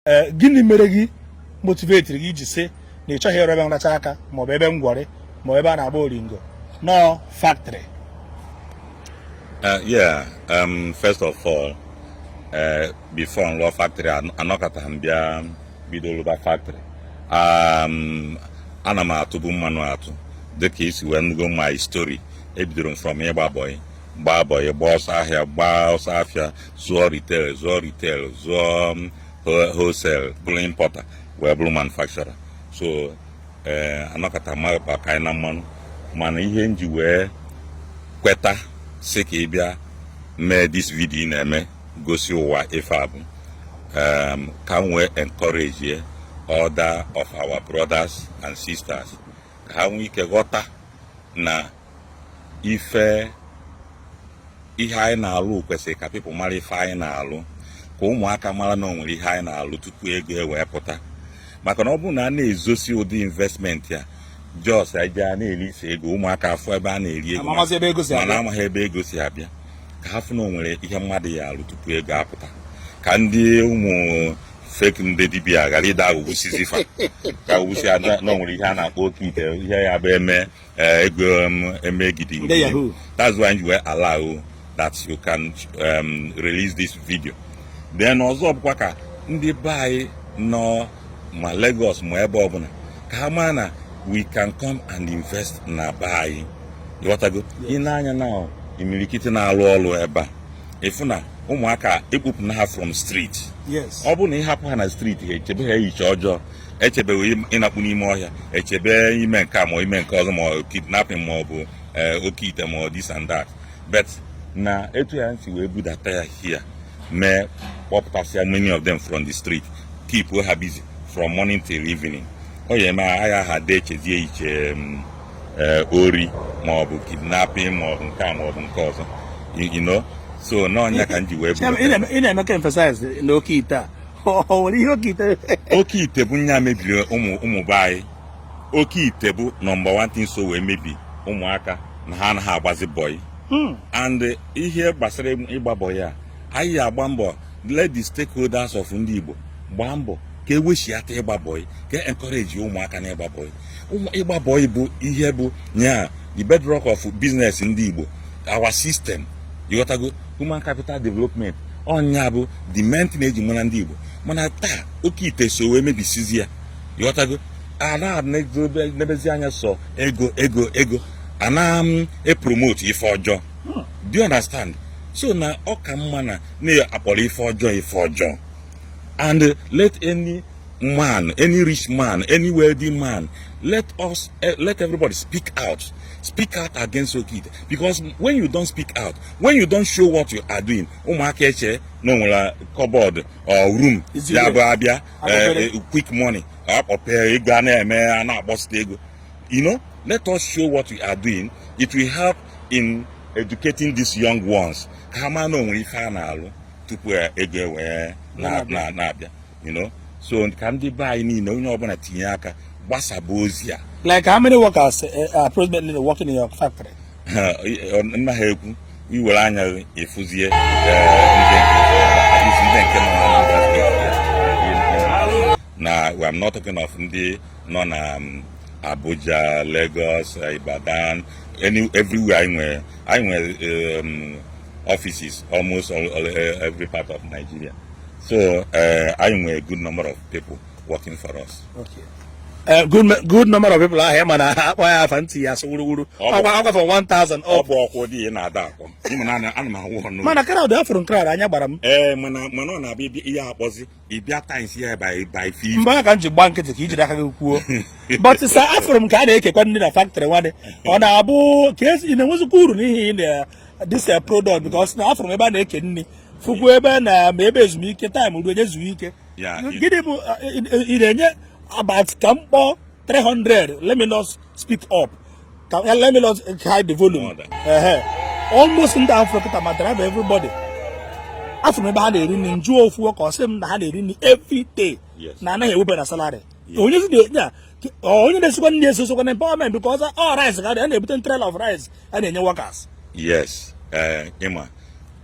ee gịnị mere gị motivetiri gị iji sị na ị chọghị ịrụ ebe nracha aka maọbụ ebe ngwọrị maọbụ ebe a na-agba oringo na ọ factory Uh, yeah, um, first of all, uh, before nlụọ factory an- anọkataghị m bịa bido lụba factory. Um, ana m atụbu mmanụ atụ dịka i si wee nụgo my story ebidoro m from ịgba bọyị gbaa bọyị gbaa ọsọ ahịa gbaa ọsọ afịa zụọ retail zụọ retail zụọ um, wholesale bụrụ importer wee bụrụ manufacturer so eh, anọkata maba ka anyị na mmanụ mana ihe nji wee kweta sị ka ị bịa mee this video ị na-eme gosi ụwa ife a bụ um, ka m wee encourage ye other of our brothers and sisters ka ha nwee ike ghọta na ife ihe anyị na-alụ kwesịrị ka people mara ife anyị na-alụ ka ụmụaka mara na onwere ihe anyị na-alụ tupu ego ewee pụta maka na ọ bụrụ na a na-ezosi ụdị investment a just a ja na-erisi ego ụmụaka afụ ebe a na-eri ego mana amaghị ebe ego si abịa ka ha fụ na onwere ihe mmadụ ya alụ tupu ego apụta ka ndị ụmụ fake ndị dibịa ghara ịda aghọgbusizi fa ka agwụgwụsi ada na onwere ihe a na-akpọ oke ite ihe ya bụ eme uh, ego um, emegidi Ndị Yahoo. that's why m wee allow that you can um, release this video then ọzọ bụkwa ka ndị be anyị nọ ma Lagos ma ebe ọbụla ka ha maa na we can come and invest na be anyị ịghọtago i nee anya na imirikiti na-alụ ọlụ ebe a ị fụ na ụmụaka ekpopụna ha from street yes ọ bụrụ na ị hapụ ha na street ha echebe ha iche ọjọọ echebe ịnakpu n'ime ọhịa echebe ime nke a ma ime nke ọzọ ma ọ kidnapping ma ọ bụ eh, oke ite ma ọ this and that but na etu a nsi wee budata ya here mee kpopụtasịa many of them from the street keep ha busy from morning till evening ọ ya eme ha ghara ịda echezie iche mm, eh, ori ma ọ bụ kidnapping ma ọ bụ nke a ma ọ bụ nke ọzọ you know so na ọ nya ka m ji wee ị na-eme ka emphasize n'oke ite a oke ite bụ nya mebiri ụmụ ụmụ be anyị oke ite bụ number one thing so wee mebi ụmụaka na ha anaghị agbazi bọyị hmm. and ihe gbasara ịgba bọyị a anyị ya agba mbọ let the stakeholders of ndị Igbo gbaa mbọ ka ewechiata ịgba bọyị ka encourage ụmụaka na ịgba bọyị ịgba bọyị bụ ihe bụ nya the bedrock of business ndị Igbo our system ịghọtago human capital development ọnya bụ the main thing eji mara ndị Igbo mana taa oke ite so wee mebisizi ya ịghọtago a na-enezi anya sọ ego ego ego a na-epromote ife ọjọọ hmm. do you understand so na ọ ka mma na na-akpọrọ ife ọjọọ ife ọjọọ and let any man any rich man any wealthy man let us eh, let everybody speak out speak out against okite because when you don't speak out when you don't show what you are doing ụmụaka eche na onwere cupboard or room ya bụ abịa eh, eh, quick money akpọpee ego a na-eme a na-akpọsite ego you know let us show what we are doing it will help in educating these young ones ka ha ma na onwere ife a na-alụ tupu ego ewee na-abịa you know so ka ndị be anyị niile onye ọbụla tinye aka gbasaba ozi a like how many workers eh, eh, are presently working in your factory nna ha ekwu iwere anya ị fụzie ndị nke na I'm not talking of ndị nọ na um, Abuja Lagos Ibadan any everywhere anyị nwere anyị nwere um, offices almost all, all, every part of Nigeria so eh, anyị nwere good number of people working for us Okay. Eh, good, me- good number of people ahụ ya mana ha akpọ ya afa ntị ya asụ wuruwuru Ọ bụ- ọgwa ọgwa for 1000 ọ ọ bụ ọkwụ dị ya na-ada akpọ ịma na ana- ana m ahụ ọnụ mana crowd afụrụ m crowd anya gbara m ee mana mana ọ na-abịa ịbịa- ihe akpọzi ịbịa times ya by by fif mgbe ahụ ka m ji gba nkịtị ka ijiri aka gị kwuo but sir afụrụ m ka a na-ekekwa nri na factory one day ọ na-abụ ka asị ị na-enwezikwa uru n'ihe ị na- this uh, product because na afụrụ m ebe a na-eke nri fụkwa ebe na maybe ezumike time ruo onye zuo ike Yeah, it- gịnị bụ uh, ị- ị- ị na-enye about ka m kpọọ 300 let me not speak up ka eh, let me not hide the volume More than- Ehe. almost ndị afụ kịta ma driver everybody afụrụ m ebe ha na-eri nri njụọ ofu worker ọ sị m na ha na-eri nri every day Yes. na anaghị ewepụ na salary Yes. onye zi na-enye a onye na-esikwa nri esokwa na empowerment because ọ rice ka a na-ebute trailer of rice a na-enye workers yes eh, ịma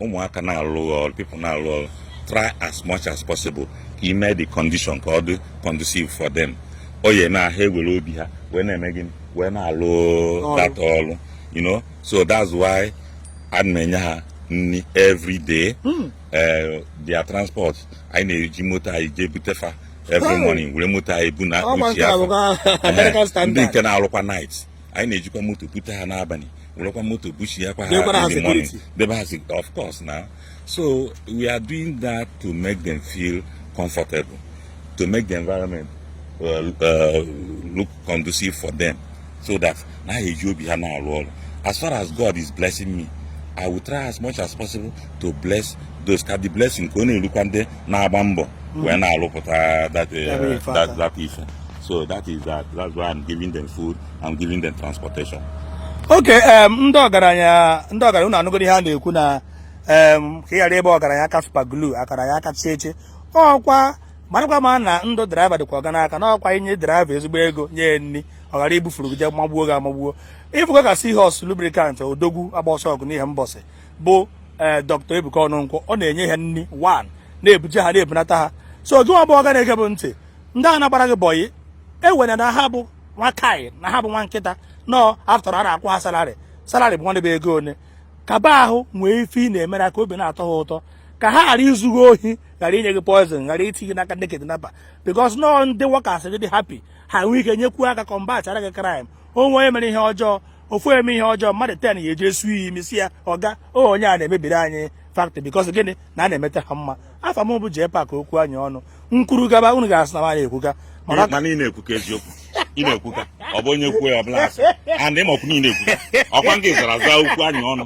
ụmụaka na-alụ ọrụ people na-alụ ọrụ try as much as possible ka ime the condition ka ọ dị conducive for them ọ ya eme ha ewere obi ha wee na-eme gịnị wee na-alụ that ọrụ you know so that's why a na-enye ha nri every day hmm. eh, their transport anyị na-eji moto anyị jee butefa every morning were moto anyị bu na uchi afọ ndị nke na-alụkwa night anyị na-ejikwa moto bute ha n'abalị werekwa moto buchiyakwa ha in the morning debe ha of course na so we are doing that to make them feel comfortable to make the environment uh, uh, look conducive for them so that na ha eji obi ha na-alụ ọrụ as far as God is blessing me I will try as much as possible to bless those ka the blessing ka ọ na-elukwa ndị na-agba mbọ mm. wee na-alụpụta that uh, that ife so that is that that's why I'm giving them food I'm giving them transportation okay um, ndị ọgaranya ndị ọgaranya unu anụgoro ihe a na-ekwu na um, ka ị ghara ebe ọgaranya aka super glue akara ya aka chieche ọkwa marakwa ma na ndụ driver dịkwa ọga n'aka na ọkwa i nye driver ezigbo ego nye nri ọ ghara ibufuru gị je magbuo gị amagbuo ịfụkwa ka Seahorse Lubricant odogwu agba ọsọ ọgụ n'Ihembọsị bụ ee eh, Doctor Ebuka Ọnụnkwọ ọ na-enye ha nri one na-ebuje ha na-ebunata ha so gị nwa bụ ọga na-ege bụ ntị ndị a na-agbara gị boy ewere na ha bụ nwa kai na ha bụ nwa nkịta no after all a na-akwụ ha salary salary bụ nwanne bụ ego one kaba ahụ nwee ife ị na-emere ha ka obi na-atọ ha ụtọ ka ha ghara izughị ohi ghara inye gị poison ghara iti gị n'aka ndị kidnapper because nọọ ndị workers gị dị happy ha nwee ike nyekwuo aka combat-ara gị crime o nwee onye mere ihe ọjọọ ofu eme ihe ọjọọ mmadụ ten ya eje ịsụ imi sị ya ọga onye a na-emebiri anyị factory because gịnị na a na-emeta ha mma afa m bụ jee pak okwu anyị ọnụ m kwuru gaba unu ga-asị na nwaanyị ekwuka mana ị na-ekwuka eziokwu ị na-ekwuka ọ bụ onye kwuo ya ọ bụlụ asị and ịmakwu niile ekwuka ọkwa nke zara zaa okwu anyị ọnụ